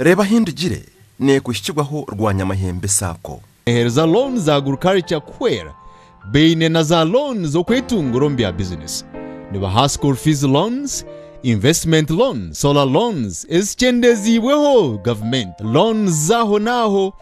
Reeba ahi ndigire, nekuhikirwaho rwanyamahembe Sacco. Heereza looni za Agriculture kuhwera baine na za looni z'okwetungura omu bya bizinesi. Nibaha School Fees Loans, Investment Loan, Solar Loans ezikyendeziibweho gavumenti, loans z'aho n'aho,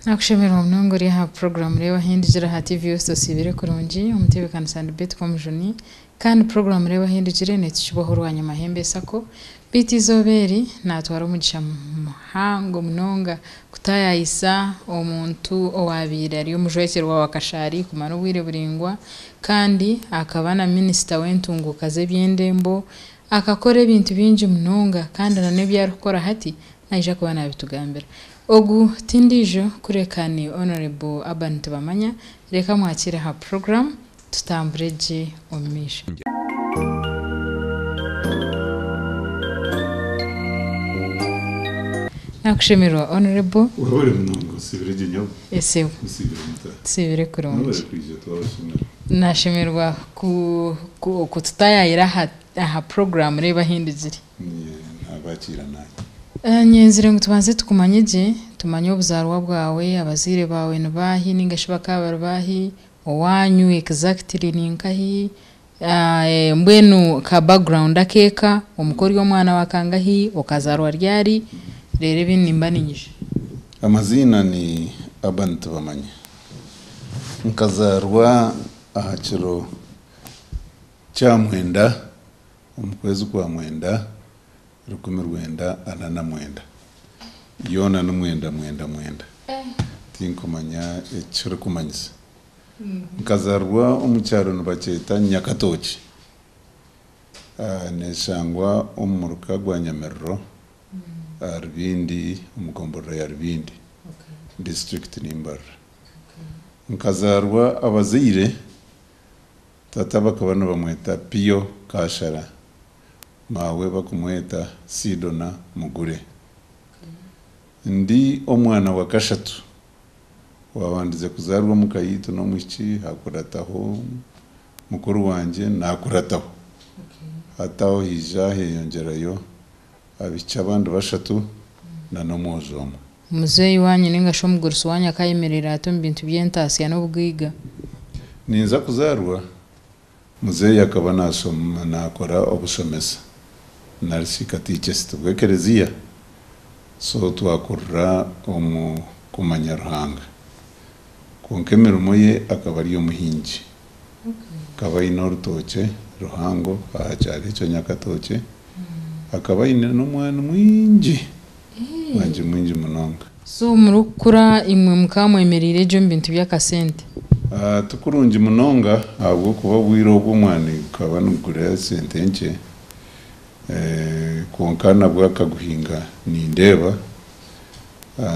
Nakushemererwa munonga ori aha puroguramu Reeba Ahu Endigire aha TV West Osiibire Kurungi, Omutebeekanisa ni Beti Komijuni kandi puroguramu Reeba Ahu Endigire neetukibwaho Rwanya Mahembe Sacco beitu eizooba eri naatwara omugisha muhango munonga kutaayayisa omuntu owaabaire ari omujwekyerwa wa Kashaari kumara obwire buraingwa kandi akaba na Minisita w'entunguuka z'ebyendembo Akakora ebintu bingi munonga kandi na n'ebi arikukora hati naija kuba naabitugambira. Ogu ti ndiijo kureka ni Honourable Urban Tibamanya. Reka mwakiire aha puroguramu tutambure gye omu maisho. Nakushemererwa Honourable. Orore munonga, osiibire gye nyabu. Esebo. Osiibire muta. Tusiibire kurungi. N'obu barikwija twabashemera. Nashemererwa ku tutayayira aha puroguramu reeba ahi ndigire. Nabakiira naanye. Nyenzire ngu tubanze tukumanye gye, tumanye obuzaarwa bwawe, abazaire baawe ni baahi nainga shi bakaba bari baahi, owaanyu exactly ni nkahi, mbwenu ka background ak'eka, omu ka ori omwana wa kangahi, okazaarwa ryari, reero ebindi nimba niinyija. Amaziina ni Urban Tibamanya. Nkazaarwa aha kiro kya mwenda omu kwezi kwa mwenda rukumi rwenda ana na mwenda. Yoona ni mwenda mwenda mwenda. Tinkumanya eki kirikumanyisa. Nkazaarwa omu kyaro nibakyeta Nyakatooki, neeshangwa omu muruka gwa Nyamiriro aha Rubindi omu gomborora ya Rubindi disiturikiti ni Mbarara. Nkazaarwa abazaire tata bakaba nibamweta Pio Kashara maawe bakumweta Sidona Mugure. Ndi omwana wa kashatu owaabandize kuzaarwa omu ka yaitu n'omwishiki hakurataho mukuru wangye naakurataho hati aho haija heyongyerayo Abaishiki abandi bashatu na n'omwojo omwe. Omuzeeyi wanyu ninga shi omugurusi wanyu akayemerera ata omu bintu by'entaatsya n'obugaiga? Ninza kuzaarwa, muzeeyi akaba naakora obushomesa nari shi katikesiti bw'ekerezia, so twakurira omu kumanya Ruhanga. Kwonka emirimo ye akaba ari omuhingi Akaba aine orutookye ruhango aha kyaro ekyo Nyakatookye. Akaba aine n'omwani mwingi, mwingi mwingi munonga. So murikukura imwe mukaba mwemereire gye omu bintu by'akasente? Ti kurungi munonga ahabw'okuba obwire obwo omwani gukaba nigugura sente nkye. Kwonka nabwo akaguhinga nindeeba,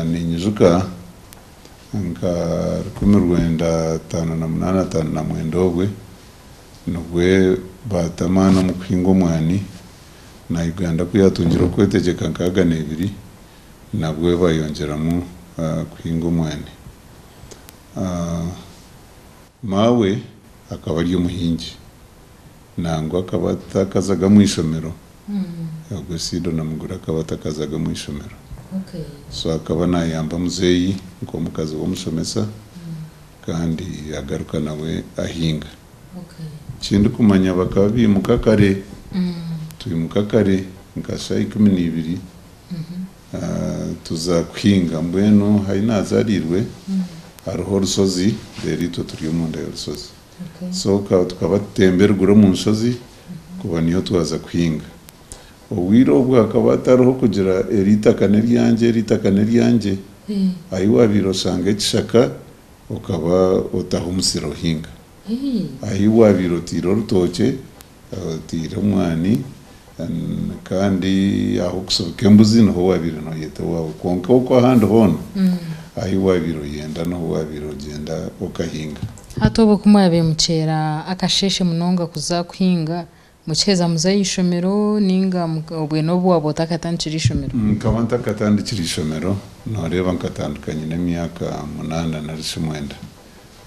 ninyijuka. nka rukumi rwenda ataano na munaana ataano na mwenda obwe nibwe baata amaani omu kuhinga omwani na Uganda ku yaatungire okwetegyeka nkaaga na ibiri nabwe baayongyeramu kuhinga omwani. Maawe akaba ari omuhingi, nangwa akaba atakazaga omu ishomero. Ogwo Sido na Muguri akaba atakazaga omu ishomero. So akaba nayamba muzeeyi nk'omukazi w'omushomesa kandi agaruka nawe ahinga. Ekindikumanya bakaba baimuka kare, twimuka kare nka shaaha ikumi na ibiri. Tuza kuhinga. Mbwenu Haine azarirwe hariho orushozi reero itwe turi omunda yorushozi so tukaba tutemba eruguru omu nshozi kuba niho twaza kuhinga. Obwire obwo hakaba hatariho kugira eri itaka neryangye eri itaka neryangye ahi wabaire oshanga ekishaka okaba otaho omusiri ohinga ahi wabaire oteire orutookye. Oteire omwani kandi ah'okusubika embuzi niho waabaire nooyeta ewaawe kwonka ew'oku ahandi hoona ahi waabaire oyenda niho waabaire ogyenda okahinga. Hati obwo ku mwabaire muceera akasheeshe munonga kuza kuhinga, mukiheza muza aha ishomero nainga obwe n'obu waaba otakatandikire ishomero? Nkaba ntakatandikire ishomero, nooreeba nkatandika nyine emyaka munaana nari shi mwenda.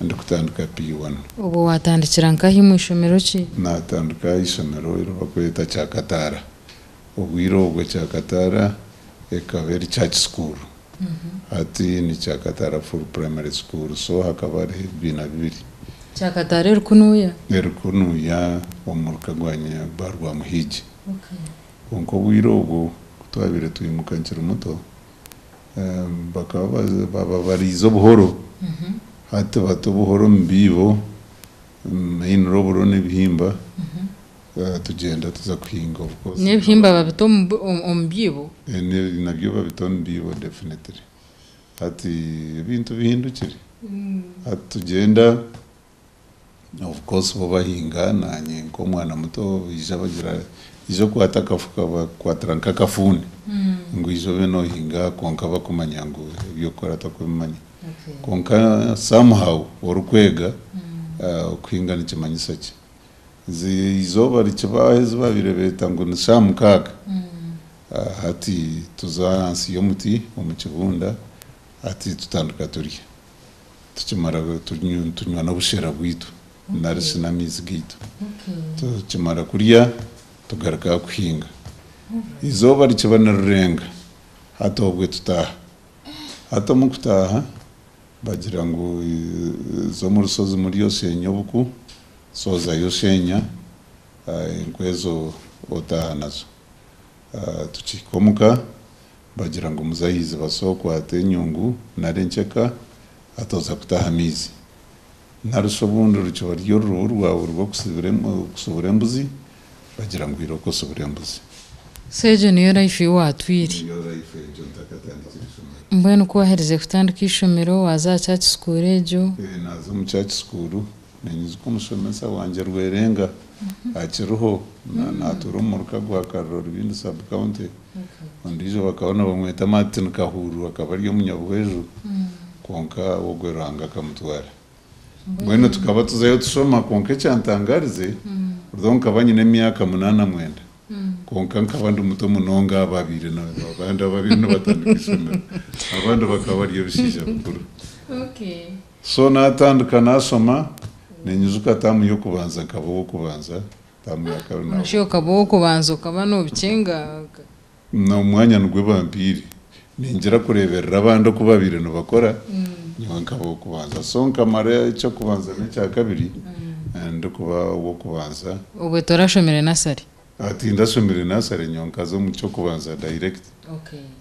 ndikutandika P1. Obwo waatandikira nkahi mu ishomero ki? Naatandika aha ishomero eri barikweta Kyakataara. Obwire obwo Kyakataara ekaba eri church school. Hati ni Kyakataara Full Primary School. So hakaba hariho ebibiina bibiri. Kyakataara eri kunuya? Eri kunuya omu muruka gwa Barwamuhiigi. Kwonka obwire obwo ku twabaire twimuka nkiri muto, Bakaba bababariize obuhoro, hati bata obuhoro omu biibo, omu mainiro oburo n'ebihimba, tugyenda tuza kuhinga obukozi. N'ebihimba babita omu biibo? Nabyo babita omu biibo definitely. Hati ebintu bihindukire. Hati tugyenda Of course bo bahinga nanye nkomwana muto baija bagira ija okwata akafuka bakukwatira nkakafuuni ngu ija obe nohinga kwonka bakumanya ngu ebyokukora tokubimanya kwonka somehow orikwega okuhinga nikimanyisa ki? Nze eizooba rikibaaho ezi babaire beta ngu ni shaa mukaaga hati tuza ahansi yomuti omukibunda hati tutandika turya. tukimara tunywa n'obushera bwaitu nari shi n'amaizi gaitu. Tukimara kurya tugaruka aha kuhinga. Eizooba rikiba nirirenga, hati obwe tutaaha. Hati omu kutaaha bagira ngu za omu rushozi murye osheenye obuku, soozayo osheenya enkwa ezo otaaha nazo. Tukihika omu ka. Bagira ngu muzahizi baso okwata enyungu nari enkyeka atoza kuta aha maizi. Nari shi obundi rukiba ruri orurubu rwawe rw'okusibura embuzi, bagira ngu iroka osibura embuzi. So egyo niyo life ei waatwire. Mbwenu ku waherize kutandika eishomero, waaza aha church school egyo? Ee, naaza omu church school. Ninyiza ku mushomesa wangye Rwerenga akiriho natuura omu muruka gwa Kariro Rubindi sub county. Ondiijo bakaba nibamweta Martin Kahururu akaba ari omunyabweju kwonka ogwe Ruhanga akamutwara. Mbwenu tukaba tuzayo tushoma kwonka ekyantangarize although nkaba nyine emyaka munana mwenda kwonka nkaba ndi muto munonga aha babaire abandi ababaire nibatandika ishomero abandi bakaba bari ebishaija bikuru. So natandika nasoma, ninyijuka tamu yokubanza nkaba owokubanza, tamu ya kabiri na. Noshusha okaba owokubanza okaba nobikyenga. Nomwanya nigwe bampaire, ningira kureberera abandi oku babaire nibakora, nyowe nkaba owokubanza. So nkamara ekyokubanza nekyakabiri ndikuba owokubanza. Obwe torashomire nasari. Ah tindashomire nursery nyowe nkaza omu ky'okubanza direct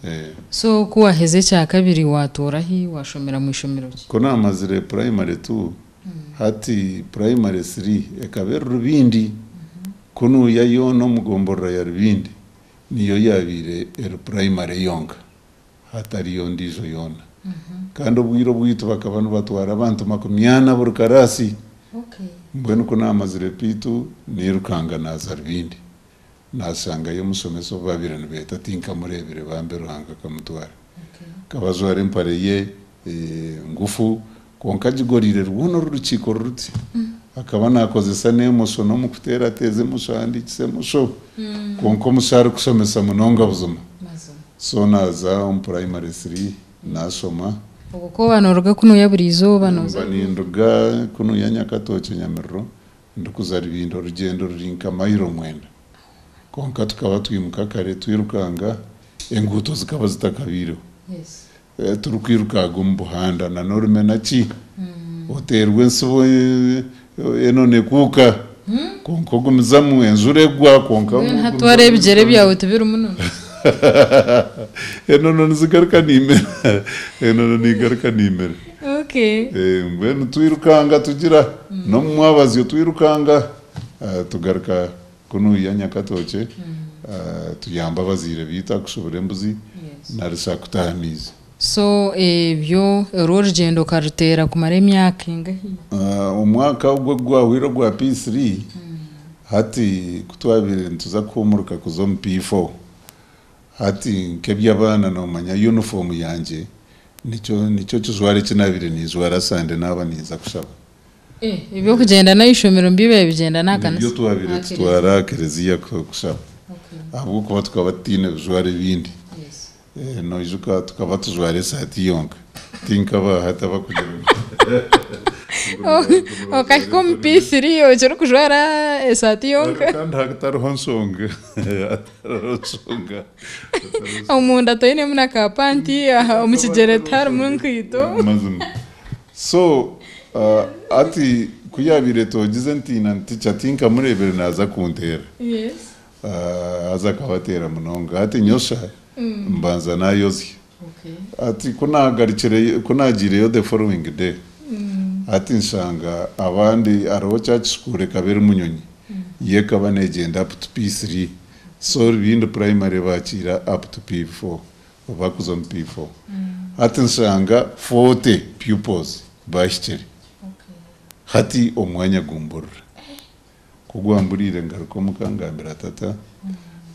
eh. So ku waheza ekya kabiri watoorahi washomera mu ishomero ki? Ku naamazire primary two, hati primary three ekaba eri Rubindi. Ku nuuya yoona omu gomborora ya Rubindi niyo yaabaire eri primary yonka. hatariyo ndiijo yoona kandi obwiire obwaitu bakaba nibatwara abantu makumi ana buri karaasi mbwenu ku naamazire piitu nairukanga naaza Rubindi naashangayo omushomesa obu baabaire nibeeta tinkamureebire bambi Ruhanga akamutwara akaba ajwara empare ye ngufu Kwonka Gigoriire rwona oru rukiiko ruti akaba naakozesa n'emosho n'omu kuteerateeza emosho ahandiikise emosho. Kwonka omusho arikushomesa munonga buzima. So naaza omu puraimari three naashoma. Obwo ku oba nooruga kunuuya buri izooba nooza Nimba kunuuya? ninduga kunuuya Nyakatookye Nyamiriro ndikuza Rubindi orugyendo ruri nka mayiro mwenda. Kwonka tukaba twimuka kare twirukanga, enguuto zikaba zitakabaireho. Turikwirukaga omu buhanda na n'orumena ki oteerwa entsibo enonekuuka kwonka ogumizamu, enjura egwa kwonka ogumizamu. Hati wara ebigyere byawe tibiri munono. Enono nizigaruka nimera, enono negaruka nimera. Mbwenu twirukanga tugira n'omu mwabazyo twirukanga tugaruka. Ku noija Nyakatookye tuyambe abazaire baitu aha kushubura embuzi nari shi aha kuta aha maizi. So ebyo orwo orugyendo okaruteera kumara emyaka engahi? Omwaka ogwo ogu gwahwaire ogwa P3, hati ku twabaire nituza kuhuumuruka kuza omu P4, hati nk'eby'abaana noomanya yunifoomu yangye nikyo nikyo kijwaro eki naabaire ninjwara sande naaba ninza kushaba. Eby'okugyenda n'eishomero nibiibaire bigyenda n'aha kanisa? Nibyo twabaire tutwara aha kereziya kushaba ahabw'okuba tukaba tutaine bijwaro ebindi. Noijuka tukaba tujwara esaati yonka, ti nk'aba hati abarikugira ngu Okahika omu P3 okirikujwara esaati yonka. Kandi hatariho nshonga. Omunda toinemu na ka panti, omu kigyere tiharimu nkaito. Mazima. So hati ku yaabaire etoogize ntiina nticha tinkamureebire naaza kunteera. Haza akabateera munonga. Hati nyosha mbanza naayozya. Hati ku naagarikireyo ku naagiireyo the following day, hati nshanga abandi hariho kya kishukuuro ekaba eri munyonyi, yo ekaba neegyenda up to P3. So Rubindi Primary baakiira up to P4. Bakuza omu P-four. Hati nshanga forty pupils baahikire. Hati omwanya gumburira. Ku gwamburiire ngaruka omuka ngambira tata.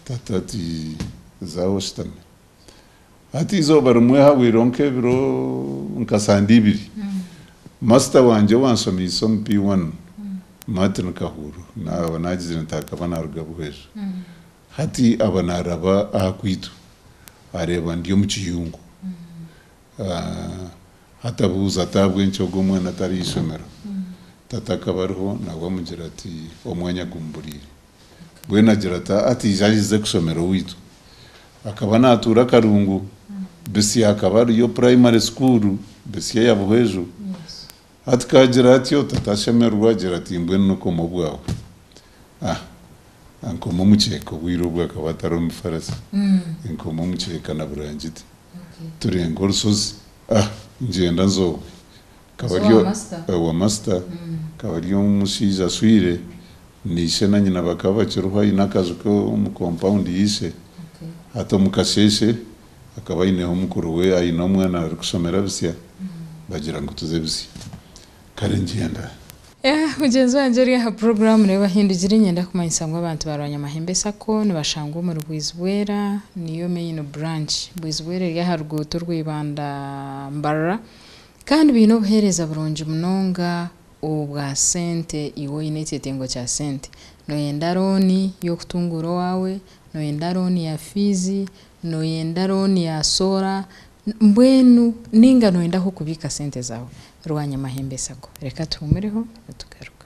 Tata ati, Zaaho oshutame. Hati eizooba rimwe hahwaireho nk'ebiro nka sande ibiri, masita wangye owanshomiise omu P-one, Martin Kahuru, naaba naagizire nti akaba naaruga Buhweja, Hati aba naaraba aha kwaitu, areeba ndi omu kiyungu. Hati abuuza ati, Ahabw'enki ogu omwana atari aha ishomero? Tata akaba ariho nawe amugira ati, Omwanya gumuburiire. Mbwenu agira ati, Ataizi ahize kushomera owaitu. Akaba naatuura Karungu. Bisya hakaba hariyo purayimare sukuuru, Bisya ya Buhweju. Hati kaagira atyo, tata ashemererwa agira ati, Mbwenu n'okooma obwawe. A, A, Nkoma omukyeka obwire obwo akaba atari omu bifarasi Nkoma omukyeka na burangiti Turenga orushozi A, Ngyenda nzoowe Akaba ari owa masita Akaba ari omushaija ashwire Na ishe na nyina bakaba bakiriho Aine akaju ke omu kompawundi ya ishe Hati omu kasheeshe Akaba aineho mukuru we Aine omwana arikushomera bisya Bagira ngu tuze bisya Kare ngyenda. Eha mugyenzi wangye ori aha puroguraamu nawe bahindugire nyenda kumanyisa ngu abantu ba Rwanyamahembe sacco nibashangwa omuri Bwizibwera niyo main branch. Bwizibwera eri aha ruguuto orwa Ibanda Mbarara kandi baine obuheereza burungi munonga obwa sente iwe oine ekyetengo kya sente. Noyenda rooni y'okutunguura owaawe, noyenda rooni ya fiizi, noyenda rooni ya soora, Mbwenu ninga noyenda ahu okubiika sente zaawe? Rwanyamahembe sacco. Reka tuhumureho nitugaruka.